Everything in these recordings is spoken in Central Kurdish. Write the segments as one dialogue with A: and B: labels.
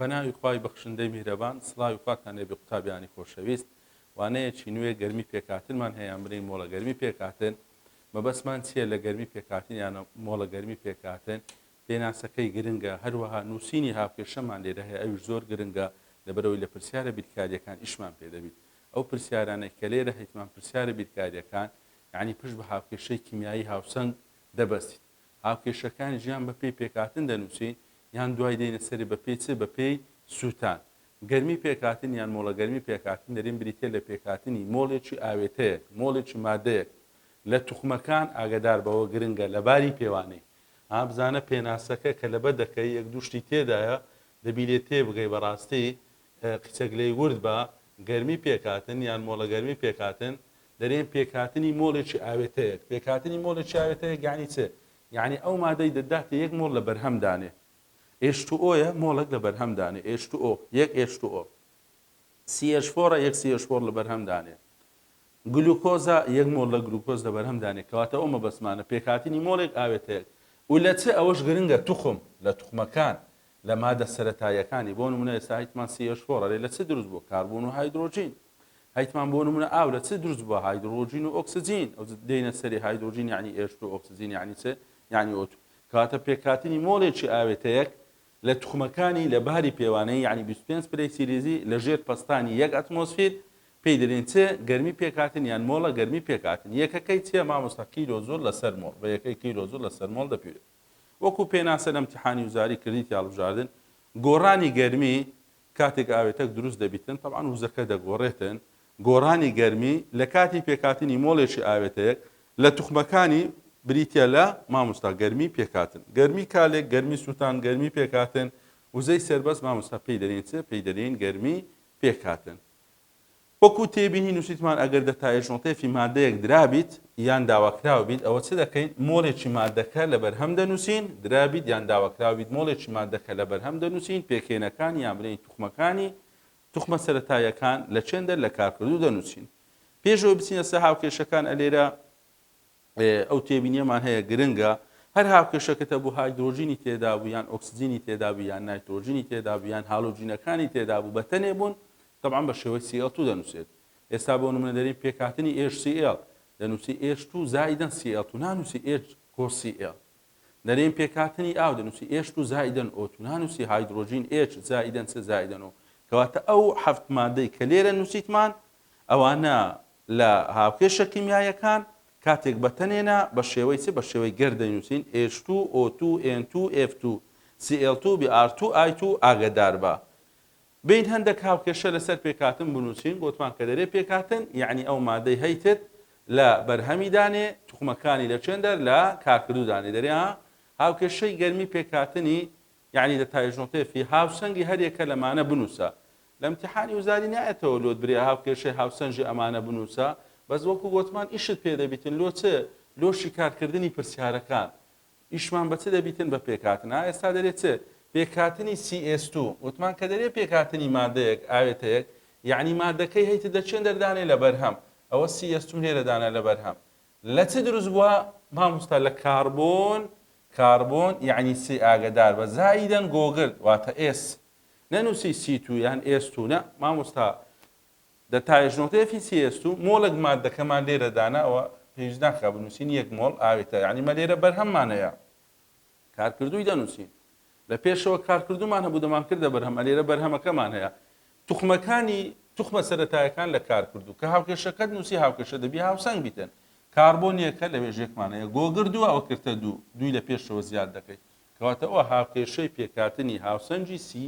A: بەناوی خوای بەخشندەی میهرەبان سڵاوی خواتان لێ بێ قوتابیانی خۆشەویست وانەیەکی نوێ گەرمی پێکهاتنمان هەیە ئەمرین مۆڵە گەرمی پێکهاتن مەبەستمان چیە لە گەرمی پێکهاتن یانە مۆڵە گەرمی پێکهاتن پێناسەکەی گرنگە، هەروەها نووسینی هاوکێشەمان لێرە هەیە، ئەویش زۆر گرنگە، لەبەرئەوەی لە پرسیارە بیرکارییەکان ئیشمان پێ دەبیت. ئەو پرسیارانەی کە لێرە هەیتمان پرسیارە بیرکارییەکان، یانی پشت بە هاوکێشەی کیمیایی هاوسەنگ دەبەستین. هاوکێشەکانیش یان بەپێی پێکهاتن دەنووسین، یان دوای دێینە سەری بەپێی چ؟ بەپێی سووتان. گەرمی پێکهاتن یان مۆڵە گەرمی پێکهاتن دەریم بریتییە لە پێکهاتنی مۆڵێکی ئاوێتەیەک، مۆڵێکی ماددەیەک، لە توخمەکان، ئاگەدار بەوە گرنگە لە باری پێوانەی ئا بزانە پێناسەکە کە لەبە دەکەی یەک دوو شتی تێدایە دەبی لێ تێبگەی بەڕاستی قیچەک لێی ورد بە گەرمی پێکهاتن یان مۆڵە گەرمی پێکهاتن دەرێن پێکهاتنی مۆڵێکی ئاوێتەیەک پێکهاتنی مۆڵێکی ئاوێتەیەک یانی چ یانی ئەو مادەی دەداتە یەک مۆڵ لە بەرهەم دانێ ئێچ تو ئۆیە مۆڵێک لە بەرهەم دانێ ئێچ تو ئۆ یەک ئێچ تو ئۆ سی ئێچ فۆڕە یەک سی ئێچ فۆڕ لە بەرهەم دانێ گلوکۆزە، یەک مۆڵ لە گلوکۆز لە بەرهەم دانێ کەواتە ئەو مەبەستمانە پێکهاتنی مۆڵێک ئاوێتەیەک و لە چ ئەوەش گرنگە توخم لە توخمەکان لە مادە سەرەتاییەکانی بۆ نمونە ئێستا هیتمان سی ئێچ فۆر ئەرێ لە چ دروست بووە کاربۆن و هایدرۆجین هیتمان بۆ نمونە ئاو لە چ دروست بووە هایدرۆجین و ئۆکسجین ئەو دێنە سەری هایدرۆجین یعنی ئێچ تو ئۆکسجین یعنی چ یعنی ئۆتو کەواتە پێکهاتنی مۆڵێکی ئاوێتەیەک لە توخمەکانی لە باری پێوانەیی یەعنی بیست و پێنج پلەی سیلیزی لە ژێر پەستانی یەک ئەتمۆسفیر پێی دەلین چ گەرمی پێک هاتن یان مۆڵە گەرمی پێک هاتن یەکەکەی چیە مامۆستا کیلۆ جوڵ لە سەر مۆڵ بە یەکەی کیلۆ جوڵ لە سەر مۆڵ دەپیوێت وەکو پێناسە لە امتیحانی وزاری کردیتی هەڵبژاردن گۆڕانی گەرمی کاتێک ئاوێتەک دروست دەبیتن تەبعەن وزەکە دەگۆڕێتن گۆڕانی گەرمی لە کاتی پێکهاتنی مۆڵێکی ئاوێتەیەک لە توخمەکانی بریتیە لە، مامۆستا گەرمی پێکهاتن گەرمی کالێک گەرمی سوتان گەرمی پێکهاتن وزەی سەربەست مامۆستا پێی دەلێین چ؟ پێی دەلێین گەرمی پێکهاتن وەکو تێبینی نوسیتمان ئەگەر دە تا ئێژنۆتێفی مادەیەک درابیت یان داواکراوبیت ئەوە چ دەکەین مۆلێکی مادەکە لە بەرهەم دەنوسین درابیت یان داواکراوبیت مۆلێکی مادەکە لە بەرهەم دەنوسین پێکهێنەکانی یان بلێین توخمەکانی توخمە سەرەتاییەکان لە چێن دەر لە کارکردوو دەنووسین. پێش ئەوەی بچینە سەر هاوکێشەکان ئە لێرە ئەو تێبینیەمان هەیە گرنگە هەر هاوکێشەکەتە بوو هایدرۆجینی تێدا بوو یان ئۆکسجینی تێدا بوو یان نایترۆجینی تێدا بوو یان هالۆجینەکانی تێدا بوو بە تەنێ بوون طبعا بە شێوەی CL2 دەنووسێت ئێستا بۆ نمونە دەرین پێکهاتنی HCl دەنووسی H2 زایدەن CL2 نانووسی H کۆ CL نەرێن پێکهاتنی ئاو دەنووسی ئێچ تو زائیدەن ئۆ تو نانووسی هایدرۆجین ئێچ زائیدەن سێ زائیدەن ئۆ کەواتە ئەو حەفت مادەی کە لێرە نووسیتمان ئەوانە لە هاوکێشە کیمیاییەکان کاتێک بە تەنێنا بە شێوەی چ بە شێوەی گەر دەینووسین ئێچ تو ئۆ تو ئێن تو ئێف تو سی ئێڵ تو بی ئار تو ئای تو ئاگەداربە بێین هەندەک هاوکێشە لەسەر پێکهاتن بنووسین بۆتمان کە دەرێ پێکهاتن یەعنی ئەو مادەی هەیتت لە بەرهەمی دانێ توخمەکانی لە چێن دەر لە کارکردوو دانێ دەرێ ها هاوکێشەی گەرمی پێکهاتنی یەعنی دە تایژنۆتێ فی هاوسەنگی هەر یەکە لەمانە بنووسە لە امتحانی وزاری نایەتەوە لۆت برێ هاوکێشەی هاوسەنجی ئەمانە بنووسە بەس وەکو گۆتمان ئیشت پێ دەبیتن لۆ چ لۆ شیکارکردنی پرسیارەکان ئیشمان بە چ دەبیتن بە پێکهاتن ئا ئێستا دەرێ چ پێکهاتنی سی ئێس تو وتمان کە دەرێ پێکهاتنی مادەیەک ئاوێتەیەک یەعنی مادەکەی هەیتد لە چێندەر دانێ لە بەرهەم ئەوە سی ئێس تو هێرە دانە لە بەرهەم لە چ دروست بووە ماموستا لە کاربۆن کاربۆن یەعنی سی ئاگەدار بە زایدەن گۆگرد واتە ئێس نەنووسی سی تو یان ئێس تو نە ماموستا دە تا یش نوقتە یفی سی یست و مۆڵێک ماددە کە مان لێرە دانا وە پێویست ناکا بنووسین یەک مۆڵ ئاوێ تە یانی مە لێرە بەرهەم مانە یا کار کردووی دەنووسین لە پێشەوە کار کردوومان هەبوو دەمان کردە بەرهەم ئە لێرە بەرهەمە کە مان هەیە توخمە کانی توخمە سەرەتایەکان لە کار کردوو کە هاوکێشە کەت نووسی هاوکێشە دەبی هاوسەنگ بیتن کاربۆ نیە کە لە وێژێک مان هەیە گۆ گردووە ئەوە کرتە دوو دووی لە پێشەوە زیاد دەکەیت کەواتە ئەوە هاوکێشەی پێکاتنی هاوسەنگی سی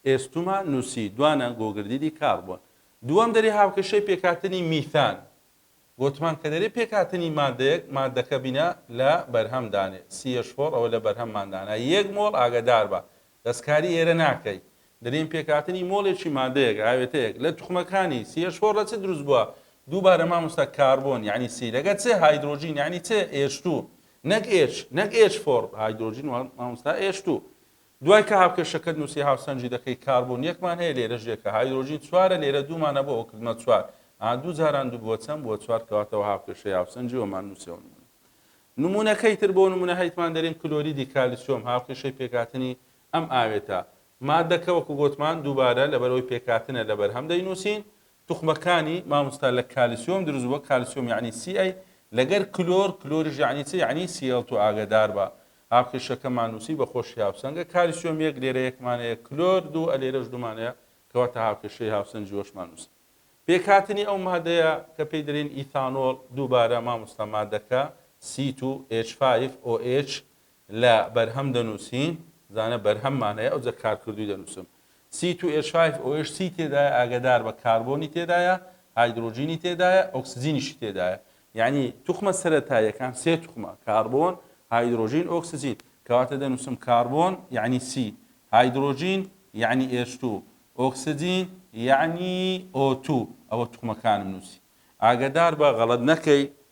A: ئێستوما نووسی، دوانە گۆگردیدی کاربۆن دووەم دەری هاوکێشەی پێکهاتنی میثان گۆتمان کە دەری پێکهاتنی مادەیەک مادەکە بینە لە بەرهەم دانێ سی ئێش فۆر ئەوە لە بەرهەم مان دانا یەک مۆڵ ئاگەدار بە دەستکاری ئێرە ناکەی دەرین پێکهاتنی مۆڵێکی مادەیەک ئاوێتەیەک لە توخمەکانی سی ئێش فۆر لە چ دروست بووە دووبارە مامۆستا کاربۆن یعنی سی لەگە چ هایدرۆجین یعنی چ ئێش تو نەک ئێش نەک ئێش فۆر هایدرۆجین مامۆستا ئێش تو دوای کە هاوکێشەکەت نووسی هاوسەنگی دەکەی کاربۆن یەکمان هەیە لێرەش یەکە هایدرۆجین چوارە لێرە دوومان هەبوو ئەوە کردمە چوار ئا دوو جاران دوو بووە چەند بووە چوار کەواتە وە هاوکێشەی هاوسەنگی وەمان نووسیەوە نموونە نموونەکەی تر بۆ نموونە هەیتمان دەریم کلۆریدی کالیسیۆم هاوکێشەی پێکهاتنی ئەم ئاوێتە ماددەکە وەکو گۆتمان دووبارە لەبەرەوەی پێکهاتنە لەبەرهەم دەینووسین توخمەکانی ماموستا لە کالسیۆم دروست بوە کالسیۆم یەعنی سی ئەی لەگەر کلۆر کلۆریش یەعنی چ یەعنی سی ئەڵ تو ئاگەدار بە هاوکێشەکەمان نوسی بە خۆشی هاوسەنگە کالسیۆم یەک لێرە یەکمان هەیە کلۆر دوو ئە لێرەش دوومان هەیە کەواتە هاوکێشەی هاوسەنگی وەشمان نوسی پێکهاتنی ئەو مادەیە کە پێی دەلێن ئیثانۆڵ دووبارە ماموستا مادەکە سی تو ئێچ فایف ئۆ ئێچ لە بەرهەم دەنووسین، زانە بەرهەم مانای ئەوجە کارکردووی دەنووسم. سی تو ئێچ فایڤ ئۆ ئێچ سی تێدایە ئاگەدار بە کاربۆنی تێدایە، هایدرۆجینی تێدایە، ئۆکسجینیشی تێدایە. یەعنی توخمە سەرەتاییەکان سێ توخمە، کاربۆن، هایدرۆجین، ئۆکسجین. کەواتە دەنووسم کاربۆن یەعنی سی، هایدرۆجین یەعنی ئێچ تو، ئۆکسجین یەعنی ئۆ تو. ئەوە توخمەکانم نووسی. ئاگەدار بە، غەڵەت نەکەی،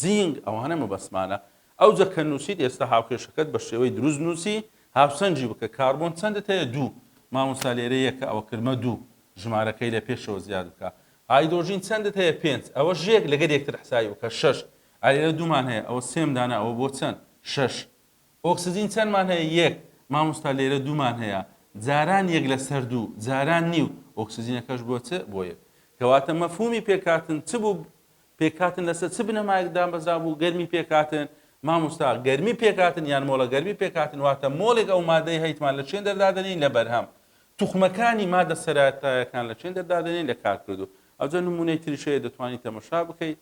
A: زینگ، ئەوانە مەبەستمانە. ئەوجە کە نووسیت ئێستا هاوکێشەکەت بە شێوەی دروست نووسی، هاوسەنگی بکە، کاربۆن چەندت هەیە؟ دوو. مامۆستا لێرە یەکە ئەوە کردمە دوو. ژمارەکەی لە پێشەوە زیاد بکە. هایدرۆجین چەندت هەیە؟ پێنج. ئەوەش یەک لەگەر یەکتر حسابی بکە. شەش. ئا لێرە دوومان هەیە، ئەوە سێم دانە ئەوە بۆ چەند؟ شەش. ئۆکسجین چەندمان هەیە؟ یەک. مامۆستا لێرە دوومان هەیە. جاران یەک لەسەر دوو، جاران نیو. ئۆکسجینەکەش بۆ چ؟ بۆ یەک. کەواتە مەفهومی پێکهاتن چ بوو؟ پێکهاتن لەسەر چ بنەمایەک دامەزرابوو؟ گەرمی پێکهاتن، مامۆستا گەرمی پێکهاتن یان مۆڵە گەرمی پێکهاتن واتە مۆڵێک ئەو مادەی هەیتمان لە چێندەر دادەنێین لە بەرهەم توخمەکانی مادە سەرەتایەکان لە چێندەر دادەنێین لە کارکردوو ئەوجە نمونەی تریش هەیە دەتوانی تەمەشا بکەی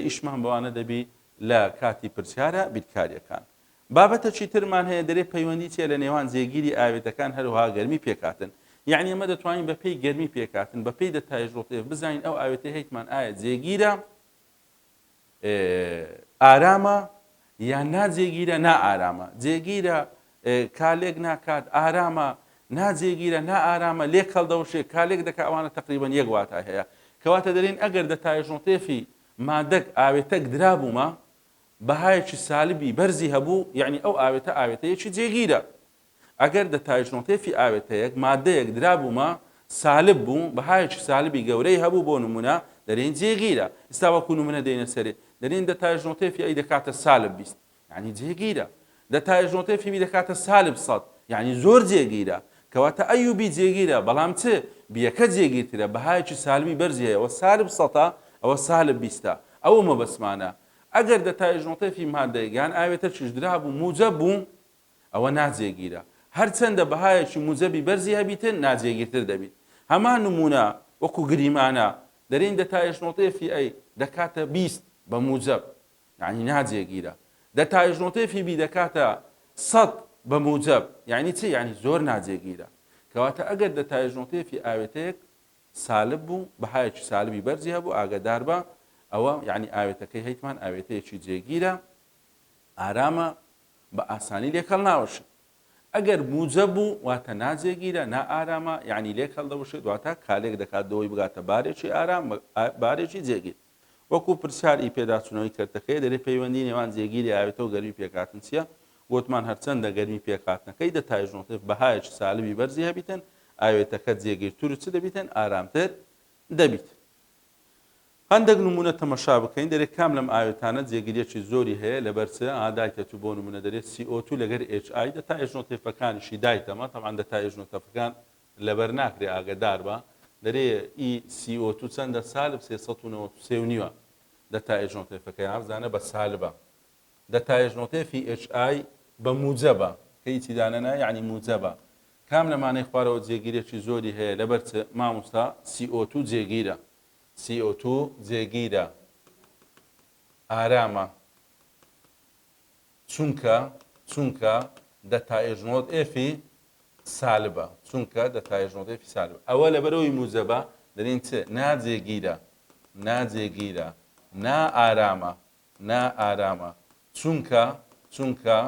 A: ئیشمان بەوانە دەبی لە کاتی پرسیارە بیرکاریەکان بابەتەکی ترمان هەیە دەرێ پەیوەندی تیە لە نێوان جێگیری ئاوێتەکان هەروەها گەرمی پێکهاتن یەعنی ئەمە دەتوانین بە پێی گەرمی پێکهاتن بە پێی دەتای ژۆتێف بزانین ئەو ئاوێتەی هەیتمان ئایا جێگیرە ئارامە یان ناجێگیرە نائارامە جێگیرە کالێک ناکات ئارامە ناجێگیرە نائارامە لێک هەڵدەوشێ کالێک دەکە ئەوانە تقریبان یەک واتای هەیە کەواتە دەرین ئەگەر دەتایژۆتێفی مادەک ئاوێتەک درابوومە بەهایەکی سالبی بەرزی هەبوو یەعنی ئەو ئاوێتە ئاوێتەیەکی جێگیرە ئەگەر دەتایشنۆتێفی ئاوێتەیەک مادەیەک درابوومە سالب بوو بەهایەکی سالبی گەورەی هەبوو بۆ نمونە دەرێن جێگیرە ئیستا وەکو نمونە دێنە سەرێ دەرێن دەتایشنۆتێفی ئەی دەکاتە سالب بیست یەعنی جێگیرە دە تایش نۆتەی فیبی دەکاتە سالب سەد یانی زۆر جێگیرە کەواتە ئەی و بی جێگیرە بەڵام چ بیەکە جێگیرترە بەهایەکی سالبی بەرزی هەیە وە سالب سەتە ئەوە سالب بیستە ئەوە مەبەستمانە ئەگەر دە تایش نۆتەی فی مادەیەک یان ئاوێتەکیش درابوو موجەب بوو ئەوە ناجێگیرە هەرچەندە بەهایەکی موجەبی بەرزی هەبیتن ناجێگیرتر دەبیت هەمان نمونە وەکو گریمانە دەرێین دە تایش نۆتەی فی ئەی دەکاتە بیست بە موجەب یەعنی ناجێگیرە دە تایش نۆتەی فیبی دەکاتە سەد بە موجەب یەعنی چی یەعنی زۆر ناجێگیرە کەواتە ئەگەر دە تایش نۆتەی فی ئاوێتەیەک سالب بوو بەهایەکی سالبی بەرزی هەبوو ئاگادار بە ئەوە یەعنی ئاوێتەکەی هەیتمان ئاوێتەیەکی جێگیرە ئارامە بە ئاسانی لێکەڵ ناوەشێ ئەگەر موجە بوو واتە ناجێگیرە نا ئارامە یەعنی لێکەڵ دەوشێت واتە کالێک دەکات دەوەی بگاتە بارێکی ئارام بارێکی جێگیر وەکو پرسیار ی پێداچونەوەی کەرتەکەیە دەرێ پەیوەندی نێوان جێگیری ئاوێتەو گەرمی پێکهاتن چیە؟ گۆتمان هەرچەندە گەرمی پێکهاتنەکەی دە تایژ نۆتێڤ بەهایەکی سالبی بەرزی هەبیتن ئاوێتەکە جێگیرترو چ دەبیتن ئارامتر دەبیت. هەندەک نمونە تەمەشا بکەین دەرێ کام لەم ئاوێتانە جێگریەکی زۆری هەیە لەبەر چ؟ ئا دایتە تو بۆ نمونە دەرێ سی ئۆ تو لەگەر ئێچ ئای دە تایژ نۆتێفەکانیشی دایتەمە تەبعەن دە تایژ نۆتەفەکان لەبەر ناکرێ ئاگەدار بە دەرێ ئی سی ئۆ تو چەندە سالب سێ سەد و نەوەد و سێ و نیوە دەتا ئێژ نۆتێفەکەی ئاف زانە بە سالبە دەتا ئێژ نۆتێفی ئێچ ئای بە موجەبە کە هیچی دانە نا یەعنی موجەبە کام لە مانەی خوارەوە جێگیرێکی زۆری هەیە لەبەر چ ماموستا سی ئۆ تو جێگیرە سی ئۆ تو جێگیرە ئارامە چونکە چونکە دە تائێژنۆت ئێفی سالبە چونکە دە تائێژنۆت ئێفی سالبە ئەوە لەبەرەوەی موجەبە دەرین چ ناجێگیرە ناجێگیرە نا ئارامە نا ئارامە چونکە چونکە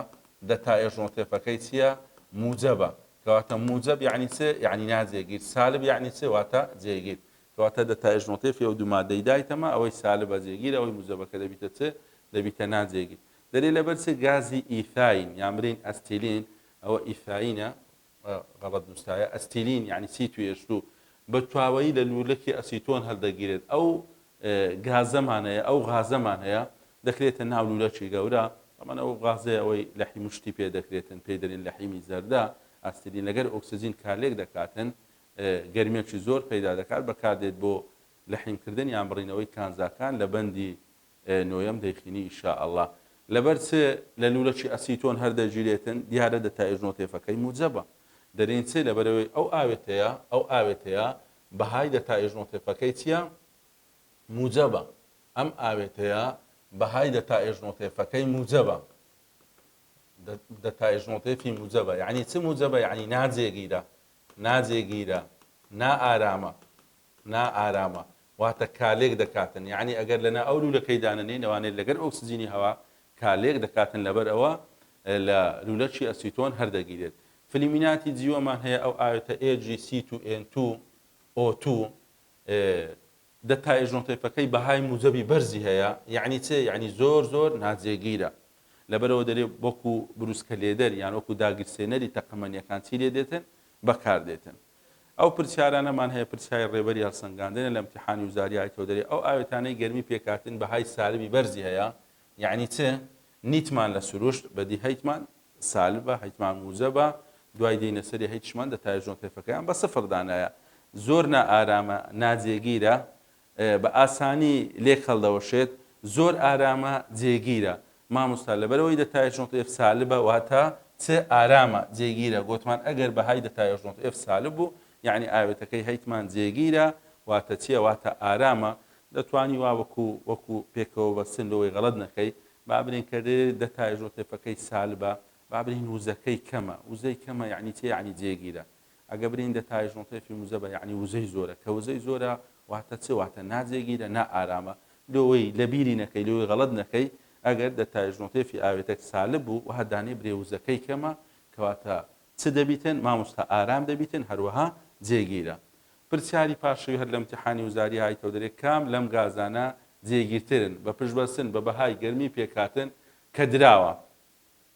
A: دە تائێژنۆتێفەکەی چییە موجەبە کەواتە موجەب یعنی چ یعنی ناجێگیر سالب یعنی چ واتە جێگیر کەواتە دە تائێژنۆتێفی ئەو دوو مادەی دایتەمە ئەوەی سالبە جێگیر ئەوەی موجەبەکە دەبیتە چ دەبیتە ناجێگیر دەرێ لەبەر چ گازی ئیثاین یا مرین ئەستیلین ئەوە ئیثاینە غەڵەت نووسرایە ئەستیلین یانی سی توێشتو بە تواوەیی لە لوولەکی ئەسیتۆن هەلدەگیرێت ئەو گازەمان هەیە ئەو غازەمان هەیە دەکرێتە ناو لوولەکی گەورە ئەمان ئەو غازەیە ئەوەی لەحی مشتی پێ دەکرێتن پێی دەرین لە حیمی زەردە ئەستیلین لەگەر ئۆکسجین کارلێک دەکاتن گەرمێکی زۆر پەیدا دەکات بەکاردێت بۆ لەحیمکردن یان بڕینەوەی کانزاکان لە بەندی نۆیەم دەیخینی ان شاء اللە. لەبەر چ لە لوولەکی ئەسیتۆن هەر دەگیرێتن؟ دیارە دەتایژ نۆتێفەکەی موجەبە. دەرێن چ؟ لەبەرئەوەی ئەو ئاوێتەیە، ئەو ئاوێتەیە بەهای دەتایژ نۆتێفەکەی چیە؟ موجەبە. ئەم ئاوێتەیە بەهای دەتایژ نۆتێفەکەی موجەبە. دەتایژ نۆتێفی موجەبە. یەعنی چ موجەبە؟ یەعنی ناجێگیرە. ناجێگیرە. نائارامە. نا ئارامە واتە کالێک دەکاتن یەعنی ئەگەر لەنا ئەو لولەکەی دانەنێین ئەوانێ لەگەر ئۆکسجینی هەوا کالێک دەکاتن لەبەر ئەوە لە لولەکی ئەسیتۆن هەر دەگیرێت فلیمیناتی جیوە مان هەیە ئەو ئاوێتە ئێ جی سی تو ئێن تو ئۆ تو دە تا ئێژنۆتەیفەکەی بەهای موجەبی بەرزی هەیە یەعنی چێ یەعنی زۆر زۆر ناجێگیرە لەبەرەوە دەرێ بۆکو بروسکە لێدەر یان وەکو داگیرسێنەری تەقەمەنیەکان چی لێ دێتن بەکار دێتن ئەو پرسیارانەمان هەیە پرسیاری ڕێبەری هەڵسەنگاندنە لە ئیمتیحانی وزاری ئای تۆ دەرێ ئەو ئاوێتانەی گەرمی پێکهاتن بەهای سالبی بەرزی هەیە یەعنی چ نیتمان لە سروشت بەدی هەیتمان سالبە هەیتمان موجەبە دوای دێینە سەری هەیتشمان دەتایە ژۆنتێفەکەیان بە سفر دانایە زۆر نائارامە ناجێگیرە بە ئاسانی لێک هەڵدەوەشێت زۆر ئارامە جێگیرە ماموستا لەبەرئەوەی دەتایشنۆتئێف سالبە واتە چ ئارامە جێگیرە گۆتمان ئەگەر بەهای دەتایشنۆتئێف سالب بوو یەعنی ئاوێتەکەی هەیتمان جێگیرە واتە چیە واتە ئارامە دەتوانی وا وەکو وەکو پێکەوە بەستن لۆی غەڵەت نەکەی بابرین کە دێ دەتایشنۆتئێفەکەی سالبە بابرین وزەکەی کەمە وزەی کەمە یەعنی چی یەعنی جێگیرە ئەگە برین دە تای ژۆنتەی فی موزە بە یەعنی وزەی زۆرە کە وزەی زۆرە واتە چ واتە نا جێگیرە نا ئارامە لۆیی لە بیری نەکەی لۆیی غەڵەت نەکەی ئەگەر دە تای ژۆنتەی فی ئاوێتەک سالب بوو وە دانێ برێ وزەکەی کەمە کەواتە چ دەبیتن ماموستا ئارام دەبیتن هەروەها جێگیرە پرسیاری پاشەوی هەر لە امتحانی وزاری ئایتەو دەرێ کام لەم گازانە جێگیرترن بە پشت بەستن بە بەهای گەرمی پێکهاتن کە دراوە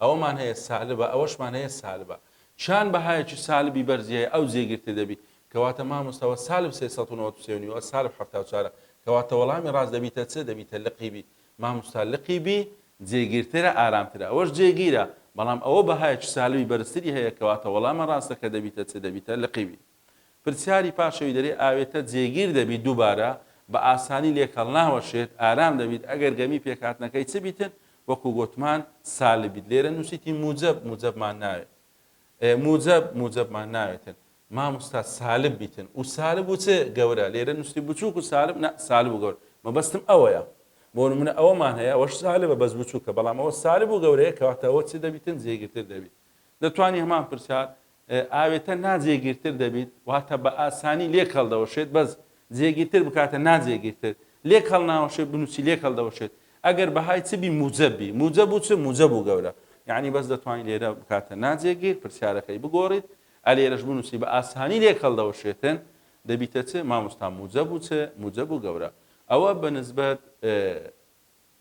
A: ئەوەمان هەیە سالبە ئەوەشمان هەیە سالبە چان بەهایەکی سالبی بەرزی هەیە ئەو جێگرتە دەبی کەواتە مامۆستا وە سالب سێ سەد و نەوەد و سێ و نیو وە سالب حەفتا و چوارە کەواتە وەڵامی ڕاست دەبیتە چ دەبیتە لقی بی مامۆستا لقی بی جێگیرترە ئارامترە ئەوەش جێگیرە بەڵام ئەوە بەهایەکی سالبی بەرزتری هەیە کەواتە وەڵامە ڕاستەکە دەبیتە چ دەبیتە لقی بی. پرسیاری پاشەوی دەرێ ئاوێتە جێگیر دەبیت دووبارە بە ئاسانی لێک هەڵناوەشێت ئارام دەبیت ئەگەر گەمی پێکهاتنەکەی چ بیتن وەکو گۆتمان سالب بیت لێرە نووسیتی موجەب موجەبمان ناوێت موجەب موجەبمان ناوێتن ماموستا سالب بیتن و سالب و چ گەورە لێرە نووستی بچووک و سالب نە سالب و گەور مەبەستم ئەوەیە بۆ نمونە ئەوەمان هەیە ئەوەش سالبە بەس بچووکە بەڵام ئەوە سالب و گەورەیە کەواتە ئەوە چ دەبیتن جێگیرتر دەبیت دەتوانی هەمان پرسیار ئاوێتە نا جێگیرتر دەبیت واتە بە ئاسانی لێک هەڵدەوەشێت بەس جێگیرتر بکاتە نا جێگیرتر لێک هەڵناوەشێت بنووسی لێک هەڵدەوەشێت ئەگەر بەهای چ بی موجەب بی موجەب و چ موجەب و گەورە یعنی بەس دەتوانین لێرە بکاتە نا جێگیر پرسیارەکەی بگۆڕیت ئەلێرەش بنووسی بە ئاسانی لێک هەڵدەوەشێتن دەبیتە چ مامۆستا موجەب و چ موجەب و گەورە ئەوە بە نسبەت